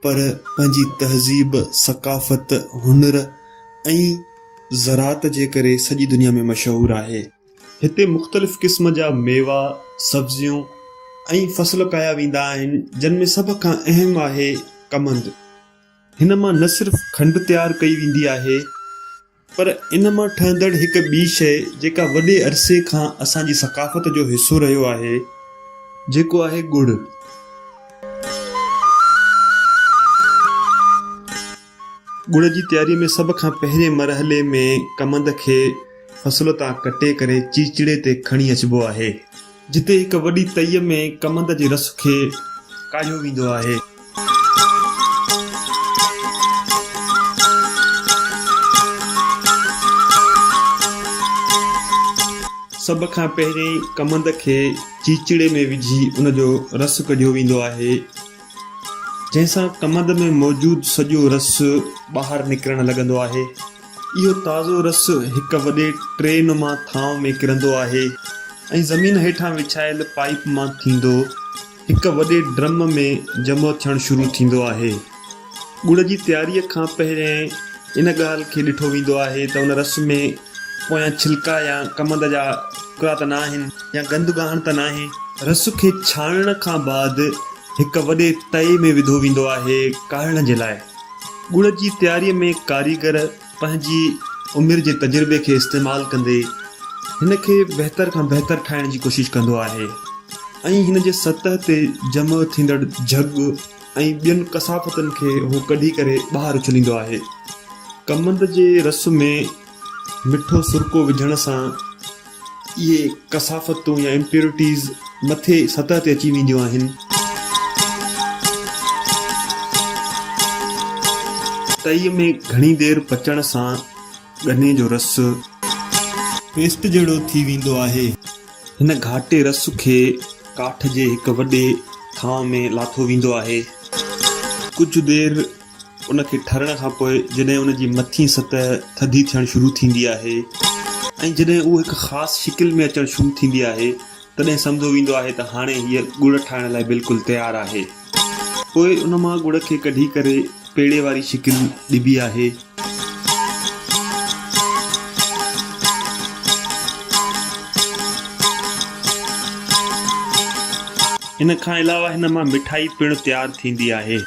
پر پنهنجي تهذيب، ثقافت، هنر ۽ زراعت جي ڪري سڄي دنيا ۾ مشهور آهي. هتي مختلف قسم جا ميوا، سبزيون ۽ فصل اگايا ويندا آهن، جن ۾ سڀ کان اهم آهي ڪمند. هن مان نه صرف کنڊ تيار ڪئي ويندي آهي. پر ان مان ٺهندڙ هڪ ٻي شيء جيڪا وڏي عرصي کان اسان جي ثقافت جو حصو رهيو آهي جيڪو آهي ڳڙ. ڳڙ جي تياريء ۾ سڀ کان پهرين مرحلي ۾ ڪمند کي فصل تان ڪٽي ڪري چيچڙي تي کڻي اچبو آهي. جتي هڪ وڏي تئي ۾ ڪمند جي رس کي ڪاڙهيو ويندو آهي. سڀ کان پهرين ڪمند کي چيچڙي ۾ وجهي ان جو رس ڪڍيو ويندو آهي. جنهن سان ڪمند ۾ موجود سڄو رس ٻاهر نڪرڻ لڳندو آهي. اهو تازو رس هڪ وڏي ٽري نما ٿانو ۾ ڪرندو آهي ۽ زمين هيٺان وڇايل پائيپ مان ٿيندو هڪ وڏي ڊرم ۾ جمع ٿيڻ شروع ٿيندو آهي. ڳڙ جي تياريء کان پهريائين ان ڳالهه کي ڏٺو ويندو آهي ته ان رس ۾ پويان ڇلڪا يا ڪمند جا ٽڪرا ته نه آهن يا گند ڳاهڻ ته ناهي. رس کي ڇاڻڻ کان بعد هڪ وڏي تئي ۾ وڌو ويندو آهي ڪاڙهڻ جي لاء. ڳڙ جي تياريء ۾ ڪاريگر پنهنجي عمر جي تجربي کي استعمال ڪندي هن کي بهتر کان بهتر ٺاهڻ جي ڪوشش ڪندو آهي ۽ هن جي سطح تي جمع ٿيندڙ جهڳ، ۽ ٻين ڪثافتن کي هو ڪڍي ڪري ٻاهر اڇليندو آهي. ڪمند جي رس ۾ مٺو سرڪو وجهڻ سان اهي ڪثافتون يا Impurities مٿي سطح تي اچي وينديون آهن. تئي ۾ گهڻي دير پچڻ سان ڳني جو رس. پيسٽ جهڙو ٿي ويندو آهي. هن گهاٽي رس کي ڪاٺ جي هڪ وڏي ٿانء ۾ لاٿو ويندو آهي. ڪجهه دير ان کي ٺرڻ کان پوء جڏهن ان جي مٿين سطح ٿڌي ٿيڻ شروع ٿيندي آهي ۽ جڏهن اهو هڪ خاص شڪل ۾ اچڻ شروع ٿيندي آهي تڏهن سمجهيو ويندو آهي ته هاڻي هيء ڳڙ ٺاهڻ لاء بلڪل تيار آهي. پوء ان مان ڳڙ کي ڪڍي ڪري پيڙي واري شڪل ڏبي آهي. ان کان علاوه هن مان مٺائي پڻ تيار ٿيندي آهي.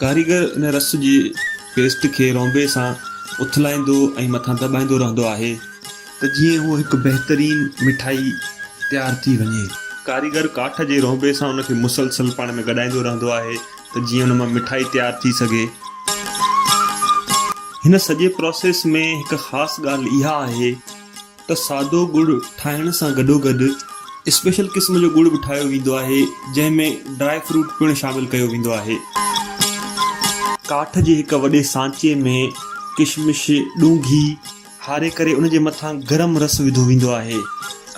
ڪاريگر ان رس جي پيسٽ کي رونبي سان اٿلائيندو ۽ مٿان دٻائيندو رهندو آهي ته جيئن هوء هڪ بهترين مٺائي تيار ٿي وڃي. ڪاريگر ڪاٺ جي رونبي سان ان کي مسلسل پاڻ ۾ گڏائيندو رهندو آهي ته جيئن ان مان مٺائي تيار ٿي سگهي. هن سڄي پراسيس ۾ هڪ خاص ڳالهه اها آهي ته سادو ڳڙ ٺاهڻ سان گڏوگڏ اسپيشل قسم جو ڳڙ به ٺاهيو ويندو آهي جنهن ۾ ڊرائي فروٽ پڻ شامل ڪيو ويندو آهي. ڪاٺ جي هڪ وڏي سانچي ۾ ڪشمش، ڏونگهي، هاري ڪري ان جي مٿان گرم رس وڌو ويندو آهي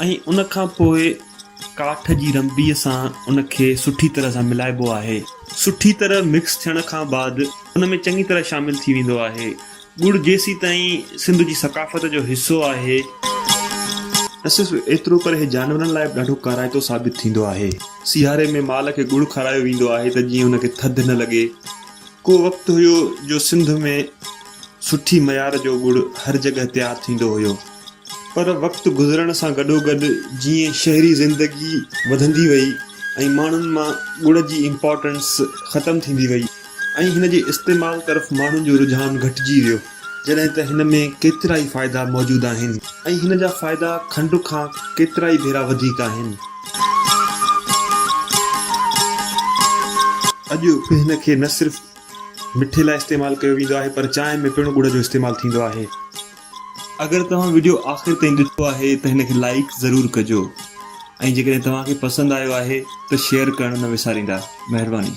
۽ ان کان پوء ڪاٺ جي رنبيء سان ان کي سٺي طرح سان ملائبو آهي. سٺي طرح مڪس ٿيڻ کان بعد ان ۾ چڱي طرح شامل ٿي ويندو آهي. ڳڙ جيسيتائين سنڌ جي ثقافت جو حصو آهي. نه صرف ايترو پر هي جانورن لاء به ڏاڍو ڪارائتو ثابت ٿيندو آهي. سياري ۾ مال کي ڳڙ کارايو ويندو آهي ته جيئن ان کي ٿڌ نه لڳي. ڪو وقت هيو جو سنڌ ۾. سٺي معيار جو ڳڙ هر جڳهه تيار ٿيندو هيو پر وقت گذرڻ سان گڏوگڏ جيئن شهري زندگي وڌندي وئي ۽ ماڻهن مان ڳڙ جي امپارٽنس ختم ٿيندي وئي ۽ هن جي استعمال طرف ماڻهن جو رجحان گهٽجي ويو جڏهن ته هن ۾ ڪيترائي فائدا موجود آهن ۽ هن جا فائدا کنڊ کان ڪيترائي ڀيرا وڌيڪ آهن. اڄ به هن کي نه صرف مٺي لاء استعمال ڪيو ويندو آهي پر چانهه ۾ پڻ ڳڙ جو استعمال ٿيندو آهي. اگر توهان وڊيو آخر تائين ڏٺو آهي ته هن کي لائيڪ ضرور ڪجو ۽ جيڪڏهن توهان کي پسند آيو آهي ته شيئر ڪرڻ نه وساريندا. مهرباني.